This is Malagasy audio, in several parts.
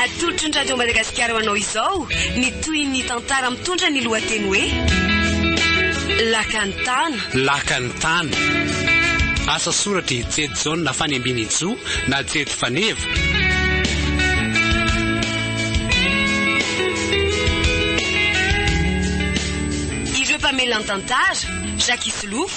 Atolotry ny Radio Madagasikara ho anao izao ny tohin'ny tantara mitondra ny lohateny hoe Lakan'ny tana. Lakan'ny tana. Asa soratry Jedy Jaona Fanembinijo na Jedy Faneva. Ireo mpamelan-tantara, Jacques Isolofo,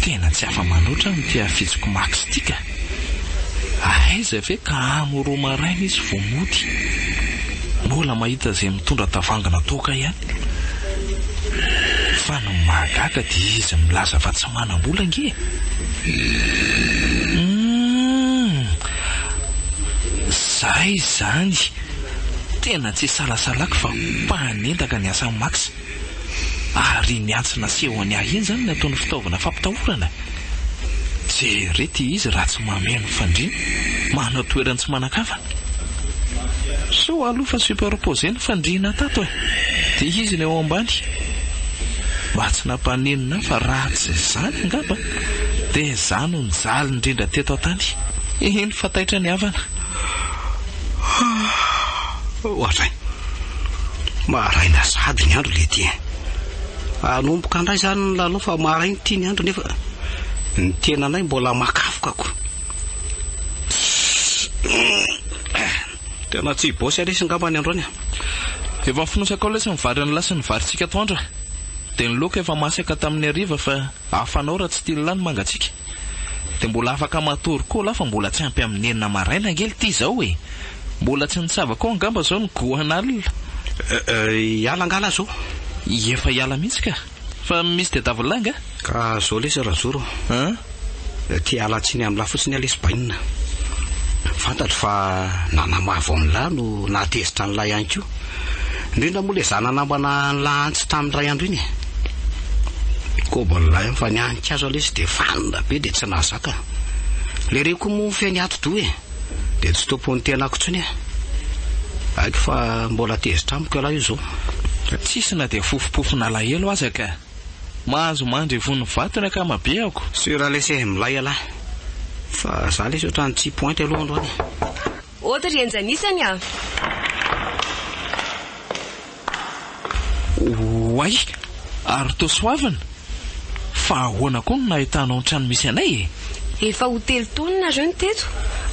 Tena tsy afa-mano loatra amin'ity hafitsiko Max ity ka! Ahaiza ve ka amo roa maraina izy vao mody? Mbola mahita izay mitondra tavoahangy natoaka ihany. Fa ny mahagaga dia izy milaza fa tsy manam-bola ange e! Humm! Zay izany! Tena tsy isalasalako fa mpanendaka ny asan'i Max. Ary ny antsy nasehony ahy iny izany no ataony fitaovana fampitahorana? Jereo ity izy raha tsy mameno ny fandriana, manao toerany tsy manan-kafa. Sao aloha fa superposé ny fandriana tato e! Dia izy no eo ambany. Mba tsy nampaninona ahy fa raha tsy izany angamba dia izaho no nijaly indrindra teto an-tany. Eny fa taitra ny havana. Ohatran. Maraina sady ny andro le tien. Anomboka ndray zany ny lalao fa maraina ity ny andro nefa ny tenanay mbola makafoka ko. Tena tsy bosy lesy ngamba ny androany a. Efa fonosakao lesy ny vary an'la sy ny varintsika atoandro a. Dia ny laoka efa masaka tamin'ny hariva fa hafanao raha tsy tian'la ny mangatsiaka. Dia mbola afaka matory koa lah fa mbola tsy ampy amin'ny enina maraina ange ity izao e! Mbola tsy nitsaba koa angamba izao ny goan'alina. Hiala angaha lah zao? Efa hiala mihitsy ka! Fa misy tadiavin'lah angaha? Ka zao lesy Razoro a! An! Te hiala tsiny amin'lah fotsiny aho lesy bainina. Fantatro fa nanamavo amin'lah no nahatezitra an'lah ihany koa. Indrindra moa le zana namana an'i Lahantsy tamin'ny iray andro iny e! Koba lay an! Fa ny an'i Kazo aloha izy dia vanona be dia tsy nahazaka. Le reko moa ny feny atidoha e! Dia tsy tompon'ny tenako intsony e! Haiko fa mbola tezitra amiko ialahy io zao. Tsisy na dia fofopofon'alahelo aza ka! Mahazo mandry ivon'ny vato ny ankamabeako. Sur lesy e! Milay ialahy. Fa za lesy otrany tsy pointy aloha androany e! Ody ry Henja anisany a! Oay! Ary toa soavina? Fa ahoana koa no nahitanao ny trano misy anay e? Efa ho telo taona nareo no teto,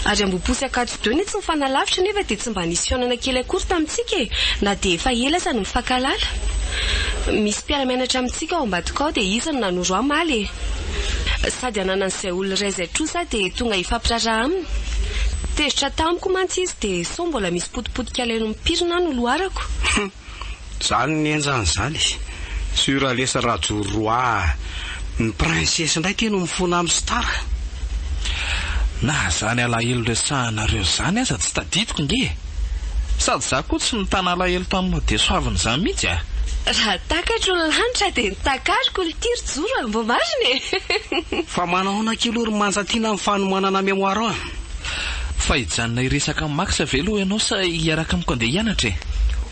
ary ambom-posy Ankatso-deux no tsy nifanalavitra nefa dia tsy mba nisy fihaonana kely akory tamintsika e! Na dia efa ela aza no nifankahalala. Misy mpiara-mianatra amintsika ao ambadika ao dia izy no nanoro ahy omaly e! Sady ananany zay olo iray zay tro za dia tonga hifampiraharaha aminy. Tezitra tamiko mantsy izy dia sao mbola misy potipotika leno mipirina no loharako. Hum. Zany ny enjany zany. Sur lesy rajoro roa ah. Ny princesse ndray kay no mifona am star. Na zany alahelo resahanareo zany aza tsy tadidiko nge e. Sady za koa tsy nitana alahelo tam mahadesoaviny zany mihitsy ah. Raha takatro ny lanitra dia ny takariko ny tiriko. Zoro a! Mba marina e! Fa manaona akia aloha ry Manja Tiana ny fanomanana mémoire an! Fa hijanona hiresaka amin'i Max ve aloha ianao sa hiaraka amiko andeha hianatra e?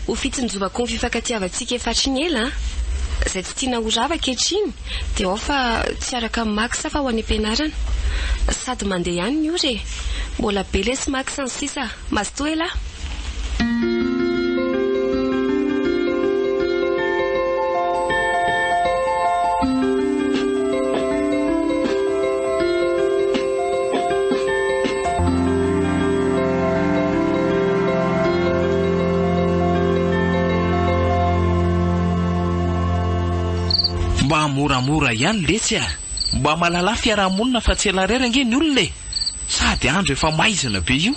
Ho fitsinjovako ny fifankatiavantsika efa hatrin'ny ela an! Izay tsy tiana ho rava ankehitriny dia ao fa tsy hiaraka amin'i Max aho fa ho any am-pianarana. Sady mandeha ihany ny ora e! Mbola be lesy Max ny sisa. Mazotoa elah. Mba moramora ihany letsy a! Mba malalà fiaraha-monina fa tsy ela irery ange ny olona e! Sady andro efa maizina be io.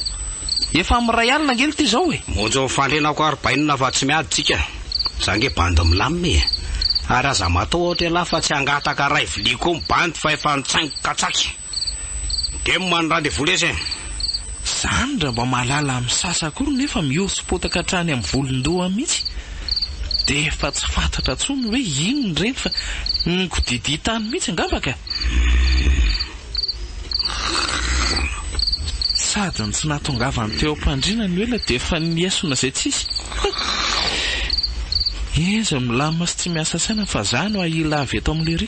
Efa amin'ny iray alina ange lty zao e! Monja ho fandriana ko ary bainina fa tsy miady tsika. Za nge bandy milamina e! Ary aza mataho ohatra ialahy fa tsy hangataka ray vilia koa ny bandy fa efa nitsaingo katsaky. Dem any rendez-vous lesy e! Zany raha mba mahalala misasa akory nefa mihoso-potaka hatrany amin'ny volon-doha mihitsy dia efa tsy fantatra tsony hoe inona ireny fa ny kodidia tany mihitsy angamba ka! Sady ny tsy nahatongavany teo am-pandriana ny ela dia efa niesona izay tsisy. Enjy milamina sy tsy miasa saina fa za no ahila avy eto amin'ny lery.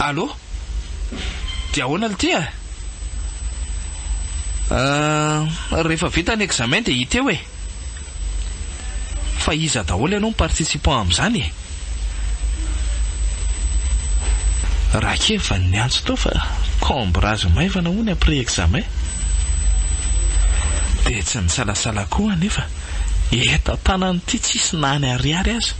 Allo? Dia ahoana lty a? Ahh, rehefa vita ny examen dia hita eo e! Fa iza daholo ianao no participant amin'izany e? Rakevan'ny antso tao fa cambrage maivana hono après examen. Dia tsy nisalasala koa aho anefa. eto an-tanana ity tsisy na ny ariary aza.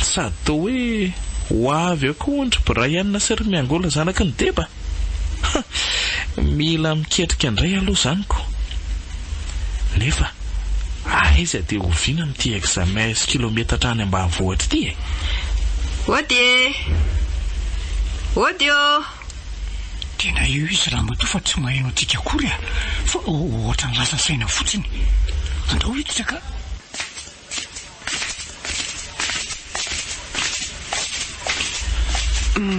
Sady toa hoe ho avy eo koa hono ry Brian sy ry Miangola zanaky ny Deba? Ha! Mila miketrika indray aloha izany ko! Nefa aiza dia oviana amin'ity examens kilometatra any ambanivohitra ity e? Ody e! Ody ô! Tena eo izy ramatoa fa tsy maheno antsika akory a! Fa ohatran'ny lasa saina fotsiny. Andao hiditra ka!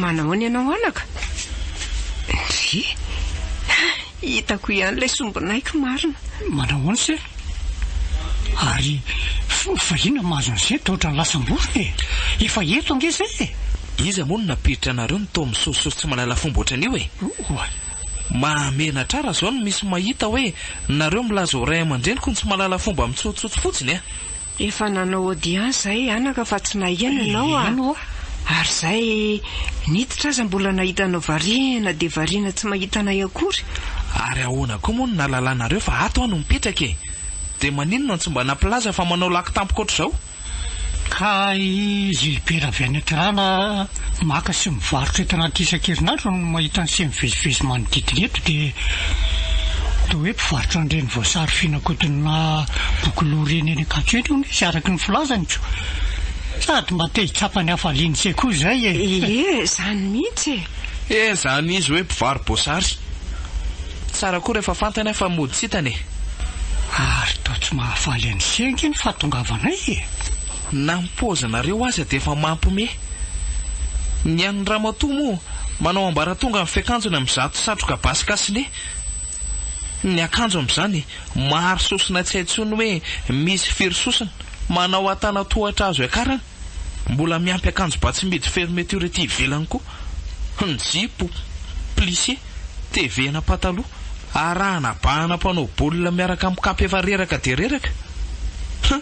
Manahoana ianao anaka? Ndry! Hitako ihany ilay sombinaiky marina. Manahoana se? Ary fa inona mahazo an'izay toa ohatran'ny lasam-borona e? Efa eto ange izay e! Iza moa no nampiditra anareo ny toa misosososo tsy mahalala fomba ohatran'io e? Oay! Mahamenatra raha izao no misy mahita hoe nareo milaza ho ray aman-dreniko no tsy mahalala fomba mitsotsotsy fotsiny a! Efa nanao audience zahay anaka fa tsy naheno ianao a! ary zahay niditra aza mbola nahita anao variana dia variana tsy mahita anay akory! Ary ahoana koa moa no nahalalanareo fa ato aho no mipetraka e! Dia maninona no tsy mba nampilaza fa manao laky tampoka ohatr'izao? Kay izy hipery avy any an-kirana a! Maka sy mivarotra entana isan-kerinandro no mahita ny seha mivezivezy manodidina eto dia toa hoe mpivarotra an'ireny voasary finakodinina bokoloha ireny eny Ankatso eny hono izy araka ny filazany ko. Sady mba te hitsapa ny hafalian'i Che koa izay e! Ie, izany mihitsy e! Ie, izany izy hoe mpivaro-boasary. Tsara koa rehefa fantany aho fa mody tsy hitany e! Ary toa tsy mahafaly an'i Che ange ny fahatongavanay e! Na ny paozinareo aza dia efa mampme. Ny an'ny ramatoa moa manao ambaratonga ny fiakanjony amin'izato satroka basy cache-nez. Ny akanjo amin'izany maro sosona tsy hay intsony hoe misy firy sosona. Manao antanantohatra azo iakaran'ny. Mbola miampy akanjo ba tsy midy fermeture ety ivelany koa. Ny jipo, plissé, tevehana pataloha. Arahana bahana mpanao baolina miaraka amin'ny kapa efa reraka dia reraka. Huh!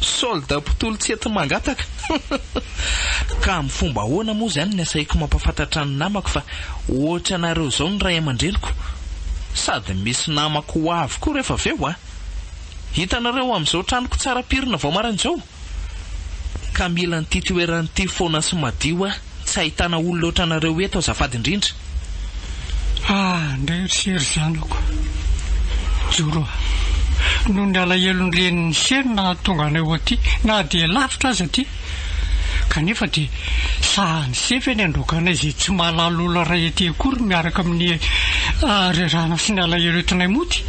Soldat mpitoly tsy ety mangataka. Ka amin'ny fomba ahoana moa izany ny asaiako mampafantatra ny namako fa ohatra anareo izao ny ray aman-dreniko? Sady misy namako ho avy koa rehefa avy eo an! Hitanareo amin'izao tranoko tsara pirina vao maraina izao? Ka mila an'ity toerana ity foana sy madio aho. Tsy ahitana olo loatra anareo eto azafady indrindra ah. Ndray ry se ry zanako joro ah. Noho ny alahelon'ny renin'i se no nahatonga anay ho aty na dia lavitra aza aty. Kanefa dia sahan'i se ve ny handroaka anay izay tsy mahalala olona iray aty akory miaraka amin'ny ah rerahana sy ny alahelo entinay mody?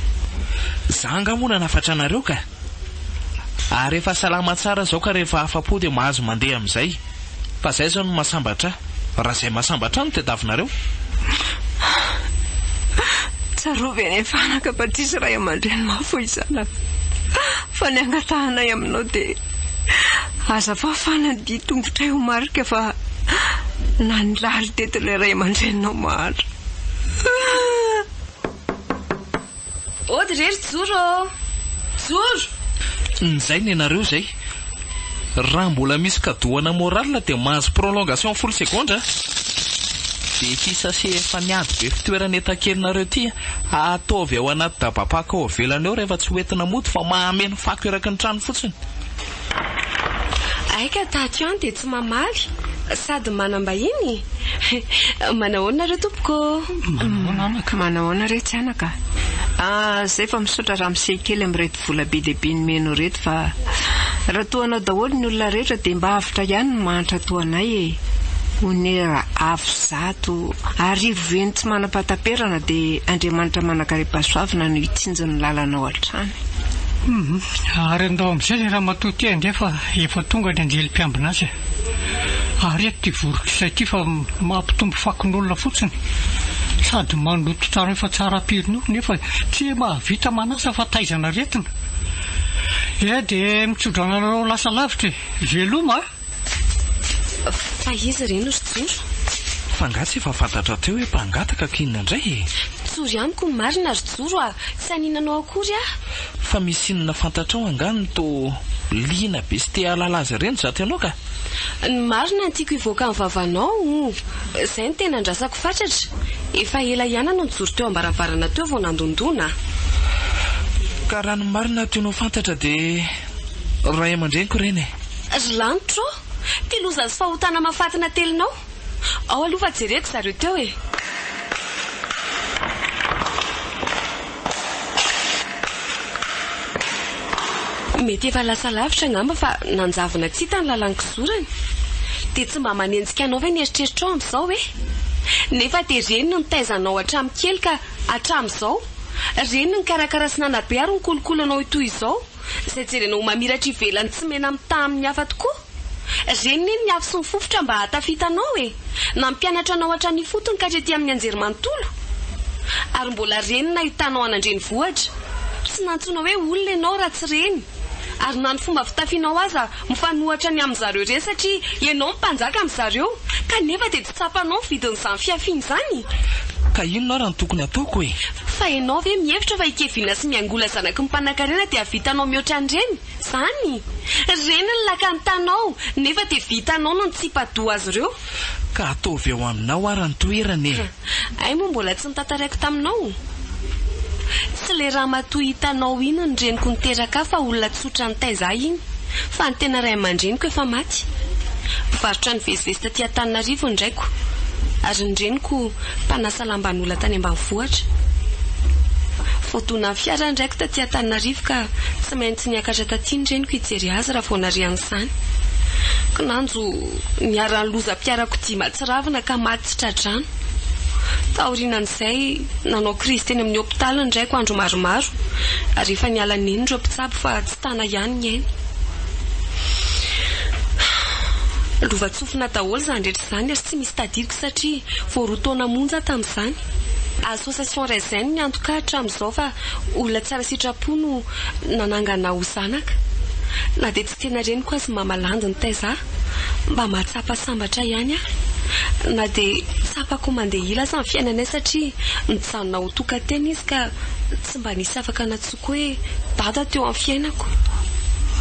Za angaha moa nanafatra anareo ka? Ary efa salama tsara zao ka rehefa afa-po dia mahazo mandeha amin'izay. Fa zay zao no mahasambatra ahy. Raha zay mahasambatra ahy no tadiavinareo. Tsarovy anie fanaka fa tsisy ray aman-dreny mahafoy zanaka. Fa ny angatahanay aminao dia aza fafana ny dihy tongotray ho marika fa nanirary teto ilay ray aman-dreninao mahantra. Ody re ry Joro ô! Joro! Nizay nenareo zay. Raha mbola misy kadohana morale dia mahazo prolongation folo segondra a! Dia ity sachet efa niady be fitoerana etakelinareo ity ataovy ao anaty dabapaka ao avelany ao rehefa tsy hoentina mody fa mahameno fako eraky ny trano fotsiny. Aika tato ihany dia tsy mamaly sady manam-bahiny? Manahoana re tompoko ô? Manahoana re tsy anaka? Zay fa misaotra ramose kely amin'ireto vola be dia be nomenao ireto fa raha toa anao daholo ny olona rehetra dia mba avotra ihany ny mahantra toa anay e! Onera avo zato arivo heny tsy manam-pahataperana dia Andriamanitra manakaripahasoavina no hitsinjo ny lalanao hatrany. Ary andao amin'izay ilay ramatoa ity andeha fa efa tonga ny anjely mpiambina azy e! ary eto ity vorotr'izay ity fa mampitombo fakon'olona fotsiny sady mandoto trano efa tsara am-pirinao nefa tsy mahavita manasa fa taizan'aretina e! dia mitsodrano anareo lasa lavitra e! veloma a! Fa iza re no ry Joro? Fa angaha tsy efa fantatra teo hoe mpangataka ka inona indray e? Tsory amiko ny marina ry Joro a! Tsy hanina anao akory aho. Fa misy inona fantatrao angaha no toa liana be sy te hahalala azy ireny izato ianao ka? Ny marina no tiako hivoaka amin'ny vavanao o! Izay no tena andrasako fatratra. Efa ela ihany anao nijoro teo am-baravarana teo vao nandondona aho. Ka raha ny marina tianao fantatra dia ray aman-dreniko ireny e! Ry lanitro ô! Ty loza sy fahotana mahafaty natelinao! Ao aloha fa jereko zareo teo e! Mety efa lasa lavitra angamba fa nanjavona tsy hita ny lalan-kizorany. Dia tsy mba manenjika anao ve ny eritreritrao amin'izao hoe? Nefa dia reny no nitaiza anao hatramin'ny kely ka hatramin'izao? Reny no nikarakara sy nanabe ary nikolokolo anao ho toy izao? Izay jerena ho mamiratra ivelany tsy mena-mitaha amin'ny hafa tokoa. Reny ne ny afo sy ny fofotra mba hahatafitanao e! Nampianatra anao hatrany ifotony ka hatrety amin'ny anjerimanontolo. Ary mbola reny ny nahitanao an'andrenivohitra. Tsy nantsoina hoe olona ianao raha tsy reny. Ary na ny fomba fitafianao aza mifanohitra ny amin'izareo ireny satria ianao no mpanjaka amin'izareo. Kanefa dia. Tsapanao ny vidin'izany fihafiana izany? Ka inona ary no tokony ataoko e? Fa ianao ve mihevitra fa hikeviana sy miangola zanaky ny mpanankarena dia hahavitanao mihoatra an'ireny? Zany? Ireny ny lakan'ny tanao, nefa dia vitanao no nitsipa-doha azy ireo. Ka ataovy ao aminao ary ny toerana e! Hay moa mbola tsy notantaraiko taminao? Tsy le ramatoa hitanao iny ny reniko niteraka ahy fa olona tsotra nitaiza ahy iny fa ny tena ray aman-dreniko efa maty. Mpivarotra ny vezivezy taty Antananarivo ny raiko ary ny reniko mpanasa lamban'olona tany ambanivohitra. Voadonan'ny fiara ny raiko taty Antananarivo ka tsy maintsy niakatra taty ny reniko hijery azy raha vao narian'izany. Kinanjo niharan'ny lozam-piarakodia mahatsiravina ka maty tsy tra-drano. Taorianan'izay. Nanao krizy teny amin'ny hopitaly ny raiko andro maromaro ary efa niala neny ireo mpitsabo fa tsy tana ihany ny ainy. Lovantsofina daholo izany rehetra izany ary tsy misy tadidiko satria vao roa taona monja tamin'izany. Association Raisin ny antoko ahy hatramin'izao fa olona tsara sitrapo no nanangana ho zanaka. Tena reniko azy mama landy nitaiza ahy mba mahatsapa sambatra ihany aho na dia tsapako mandeha ila aza ny fiainanay satria nijanona ho tokan-tena izy ka tsy mba nisy afaka nantsoiko hoe dada teo amin'ny fiainako.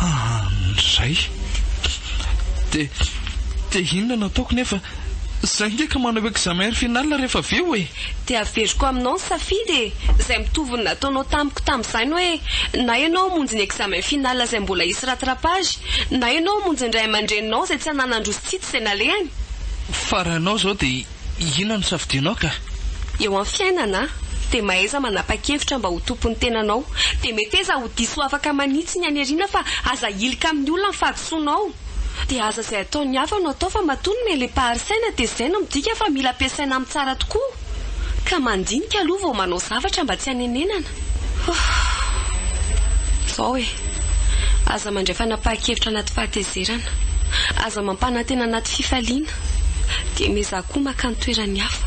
Amin'izay dia te inona no ataoko nefa zay nge ka manao examen final rehefa avy eo e! Dia averiko aminao ny safidy e! Izay mitovy ny nataonao tamiko tamin'izany hoe na ianao hamonjy ny examen final izay mbola hisy rattrapage, na ianao hamonjy ny ray aman-dreninao izay tsy hananan-droa sy tsy hitsy izay nalehany. Fa raha ianao izao dia inona no safidianao ka? Eo amin'ny fiainana dia mahaiza manapa-kevitra mba ho tompon'ny tenanao. Dia meteza ho diso afaka manitsy ny haniriana fa aza ahilika amin'ny olona ny fahadisoanao. Dia aza izay ataon'ny hafa no atao fa matoa ny mele-pahary saina dia izay no midika fa mila ampiasaina amin'ny tsara tokoa. Ka mandinika aloha vao manao zavatra mba tsy hanenenana. Ohh. Izao e. Aza mandray fanapahan-kevitra anaty fahatezerana. Aza mampanantena anaty fifaliana. Dia miezaha koa maka ny toeran'ny hafa.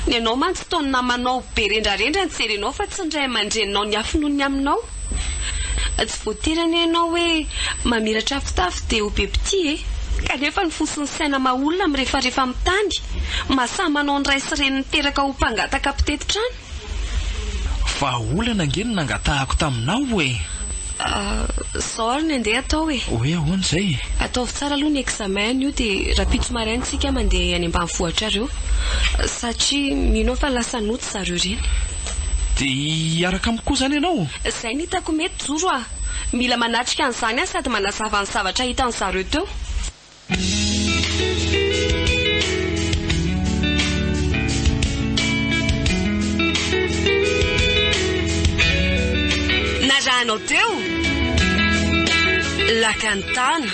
Ny anao mantsy toa ny namanao be rendrarendra ny jerenao fa tsy ny ray aman-dreninao niafy noho ny aminao. Tsy voatery anie ianao hoe mamiratra afotafo dia ho be mpitia e! Kanefa ny fo sy ny saina maha olona mirefarefa amin'ny tany, maha samy manao ny ray sy reny niteraka ho mpangataka mpitety trano. Vahaolana ange no nangatahako taminao e! Izao ary ny andeha atao e! Hoe ahoana izay e? Ataovy tsara aloha ny examen anio dia rahampitso maraina tsika mandeha any ambanivohitra ary eo satria mino aho fa lasa nody zareo ireny. Dia hiaraka amiko koa izany ianao? Izay no hitako mety, Joro a! Mila manatrika an'izany aho sady manazava ny zavatra hitan'ny zareo teo. Narahanao teo? Lakantana.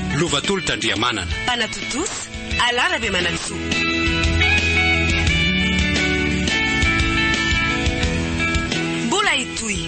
Lovatolotra Andriamanana. Mpanatontosa, Alà Rabemanantsoa. Mbola hitohy.